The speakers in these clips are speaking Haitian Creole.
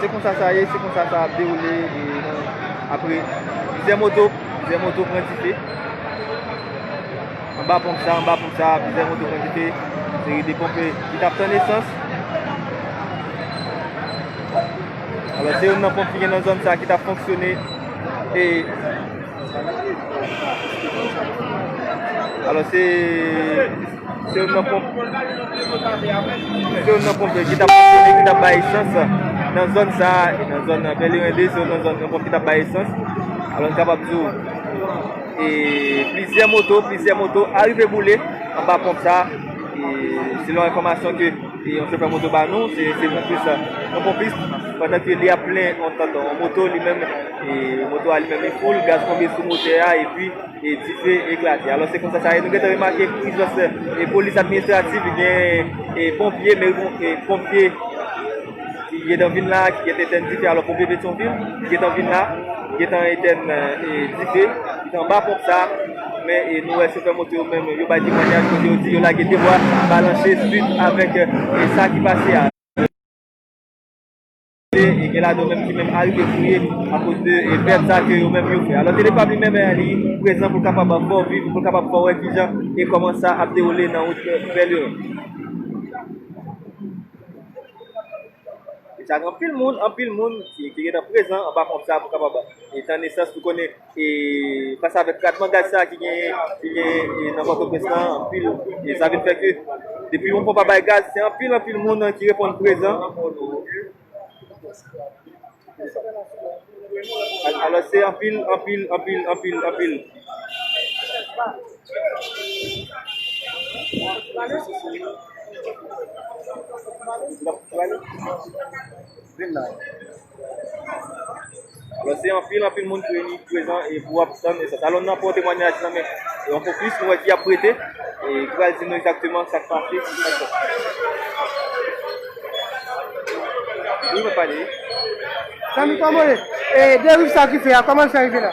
Se konsa sa ye, se konsa sa ap dewoule apre plizyè moto, plizyè moto pran dife. Anba ponp sa, anba ponp sa, plizyè moto pran dife. Se de ponpe ki tap tan esans. Alò se yon nan ponp ki gen nan zon sa ki tap fonksyone. E... Alò se... Se yon nan ponp yo ki t ap fonksyone, ki t ap bay esans nan zòn sa a, e nan zòn Pèlerin 2, se yon nan zòn nan ponp ki t ap bay esans. Alò n kapab di w, e plizyè moto, plizyè moto arive boule anba ponp sa a. E selon enfòmasyon ke yon chofè moto ba nou, se yon plis, yon ponpis, pandan ke li ap plen yon tank, yon moto li menm, e moto a li menm li foul, gaz tonbe sou motè a, epi. e dife eklate alò se konsa sa ye nou gentan remake pou ijans e polis administratif li gen e ponpye meri bon e ponpye ki gentan vin la ki gentan etèn dife alò ponpye petyonvil ki gentan vin la ki gentan etèn e dife ki te anba ponp sa men e nou wè chofè moto yo menm yo bay temwanyaj kote yo di yo lage de bwa balanse suit avèk e sa ki pase a. e gen ladan yo menm ki menm arive fouye akoz de pèt sa ke yo menm yo fè. Alò Telefab li menm li prezan pou l kapab fè w viv, pou l kapab fè w wè ki jan e kòman sa ap dewoule nan wout Pèlerin. Deja gen anpil moun, anpil moun ki gen tan prezan anba ponp sa pou kapab e tann esans pou konnen. E fas avèk tratman gaz sa ki genyen ki genyen nan Pòtoprens lan anpil e sa vin fè ke depi yon ponp ap bay gaz se anpil anpil moun ki reponn prezan. Alòs se anpil anpil anpil anpil anpil. Alon se anpil anpil moun ki reyini prezan e pou ap tann esans. Alon nan pran temwanyaj nan men yon fokis nou wè ki ap prete e ki pral di nou egzakteman sa k pase sou esans. Wi mwen pale wi. Zanmi kòman w ye? E deriv sa ki fè a kòman l fè rive la?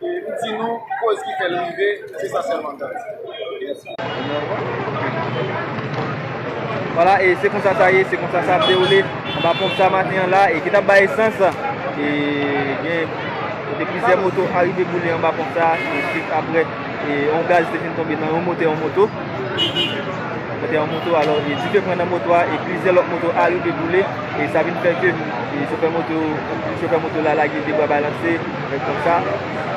Li di nou koz ki fèl rive se sa sèlman l di. Vwala e se konsa sa ye, se konsa sa ap dewoule anba ponp sa maten an la e ki tap bay esans e gen kote plizyè moto arive boule anba ponp sa e jis aprè e yon gaz te fin tonbe nan yon motè yon moto motè yon moto alò e dife pran nan moto a e plizyè lòt moto arive boule e sa vin fè ke chofè moto chofè moto la lage debra balanse. Nèg konsa,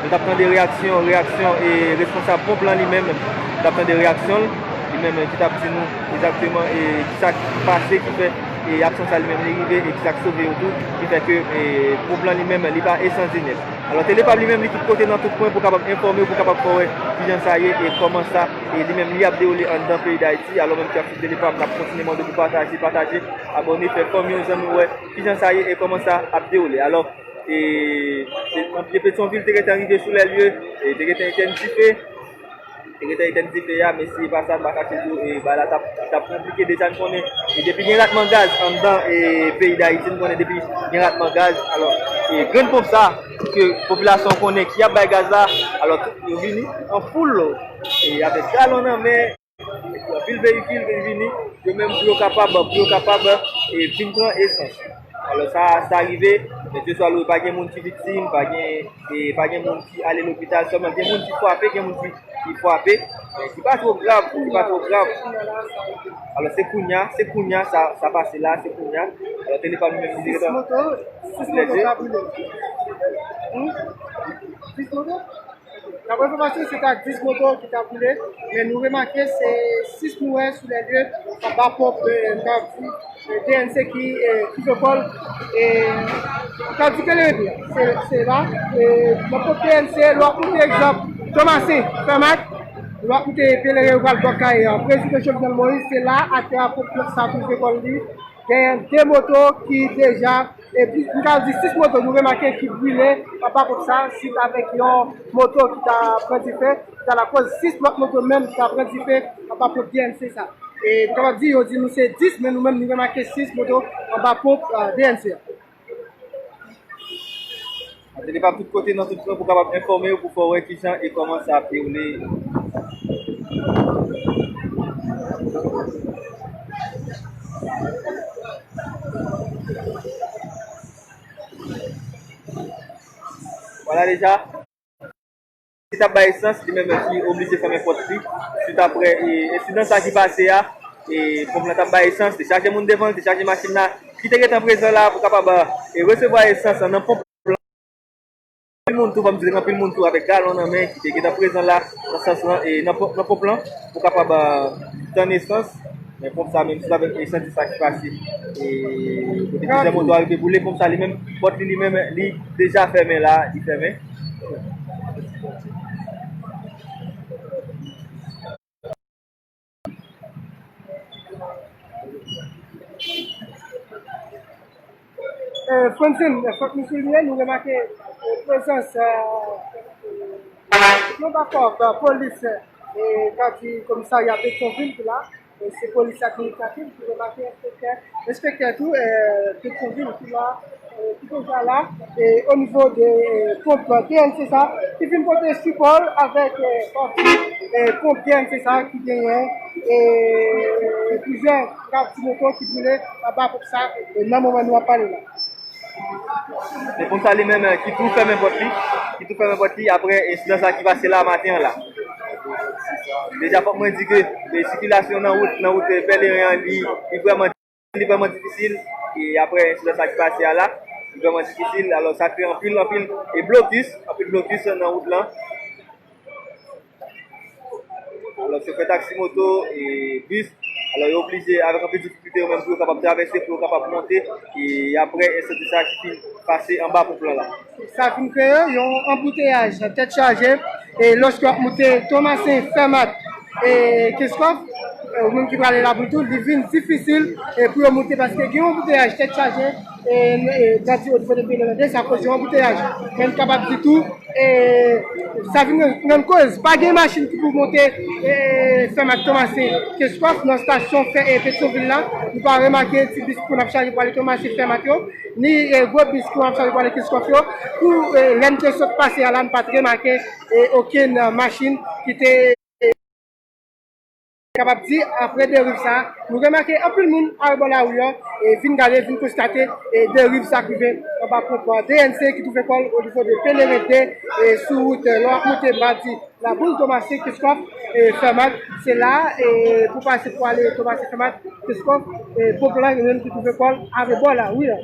nou tap tande reyaksyon, reyaksyon e responsab ponp lan li menm, nou tap tande reyaksyon l, li menm ki tap di nou egzakteman e kisa k pase ki fè e aksyon sa li menm li rive e kisa k sove yo tou ki fè ke e ponp lan li menm li pa esandye nèt. Alò tele pab li menm li tout kote nan tout kwen pou kapab enfòme w pou kapab fè w wè kijan sa ye e kòman sa e li menm li ap dewoule anndan peyi Dayiti. Alò menm ki ap swiv tele pab nap kontinye mande pou pataje, pataje, abòne, fè kòm yon zanmi wè kijan sa ye e kòman sa ap dewoule. Alò. E ponpye Petyonvil te gentan rive sou lè lye, e te gentan etenn dife. Te gentan etenn dife a, men si pa sa, m pa kache di w, e bagay la t ap konplike. Deja n konnen, e depi gen ratman gaz anndan e peyi Dayiti, n konnen depi gen ratman gaz, alò, e grenn ponp sa, ke popilasyon an konnen ki ap bay gaz la, alò, yo vini an foul, e avèk galon nan men. Anpil veyikil vin vini, yo menm pou yo kapab, pou yo kapab vin pran esans. Alò sa, sa rive, mesye swa lou pa gen moun ki viktim, pa gen, pa gen moun ki ale lopital sèlman, gen moun ki frape, gen moun ki frape, men ki pa two grav, ki pa two grav. Alò se kounya, se kounya sa, sa pase la, se kounya. Alò tele pa nou menm li rete. 6 moto, 6 moto ka boule. Hum? 6 moto? Daprè enfòmasyon se ta 10 moto ki ta boule, men nou remake se 6 nou wè sou lè lye anba ponp kap DNC ki fè kòl e kap di kele rete a. Se la nan ponp DNC lè w ap moute egzanp Tomasen, Fèmak, lè w ap moute Pèleren ou pral Bò Kaye an, Prezidan Jovenel Moïse se la atè a ponp sa tou fè kòl li genyen 2 moto ki deja. Epi m ka di 6 moto nou remake ki brile anba pòt sa sit avèk yon moto ki ta pran dife ki ta lakoz 6 lòt moto menm ta pran dife anba ponp DNC sa. E nou kapab di yo di nou se 10 men nou menm nou remake 6 moto anba ponp DNC. Atelier pap tout kote nan tout kwen pou kapab enfòme yo pou fè w wè ki jan e kòman sa ap dewoule. Wala deja. Ki t ap bay esans, li menm ki oblije fèmen pòt li swit aprè ensidan sa ki pase a. Ponp lan t ap bay esans, te chaje moun devan l, te chaje machin la ki te gentan prezan la pou kapab resevwa esans nan ponp lan. Anpil moun tou, fò m di l, gen anpil moun tou avèk galon nan men ki te gentan prezan la nan sans lan, nan ponp lan pou kapab tann esans. Men ponp sa menm si l avèk esans se sa ki pase e kote plizyè moto arive boule ponp sa li menm pòt li li menm li deja fèmen la li fèmen. Francine, fòk nou souliye, nou remake prezans yon bakòp polis ka di komisarya Petyonvil ki la, se polis administratif, nou remake enspektè, enspektè tou Petyonvil ki la, ki deja la, o nivo de ponp TNC sa, ki vin pote sipò l avèk pati ponp TNC sa ki genyen plizyè. Kay ti moto ki boule anba pòt sa nan moman nou ap pale la. Se pòt sa li menm ki tou fèmen pòt li, ki tou fèmen pòt li apre ensidan sa ki pase la maten an la. Deja fòk mwen di ke sikilasyon nan wout, nan wout Pèlerin an li vrèman, li vrèman difisil e apre ensidan sa ki pase a la, li vrèman difisil. Alò sa kreye anpil, anpil blokis, anpil blokis nan wout lan. Alò chofè taksi moto e bis, alò yo oblije avèk anpil difikilte yo menm pou yo kapab travèse, pou yo kapab monte e aprè ensandi sa ki fin pase anba ponp lan la. Sa fin kreye yon anbouteyaj nan tèt chaje e lòske wap moute Tomasen, Fèmat e Kenskòf ou menm ki prale Laboutout li vin difisil pou yo moute paske gen yon anbouteyaj tèt chaje. Dadi o dife depi 2002 sa koz yon anbouteyaj men m kapab di tou sa vin rann koz pa gen machin ki pou monte sèm ak tonmase ke swa nan stasyon fè e petwovil la nou pa remake ti bis pou n ap chaje pou ale tonmase sèm ak yo ni gwo bis pou ap chaje pou ale ke swa yo pou lè n te sot pase a la n pa t remake okenn machin ki te Kapab di apre deriv sa a, nou remake anpil moun al bò lari an e vin gade, vin konstate deriv sa k rive anba ponp DNC ki twouve kò l onivo de Peleren 2 sou wout lè w ap monte Madi Laboul Tomasen Keskòf Fèmat. Se la a pou w pase pou w ale Tomasen Fèmat Keskòf Poplan yo menm ki twouve kò l arebò lari an.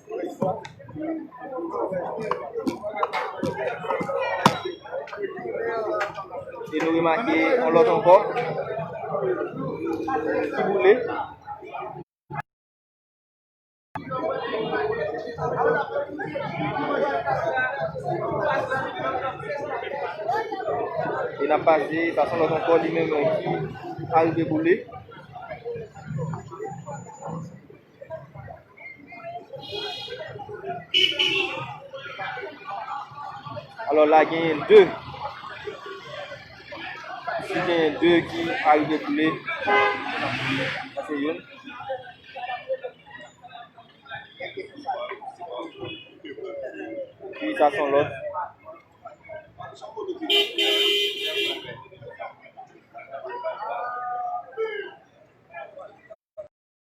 E nou remake yon lòt ankò. Ki boule. E nan pase, pase yon lòt ankò li menm ki arive boule. Alò la genyen 2. Si genyen 2 ki arive koule. Ase yon. Ki sa son lòt.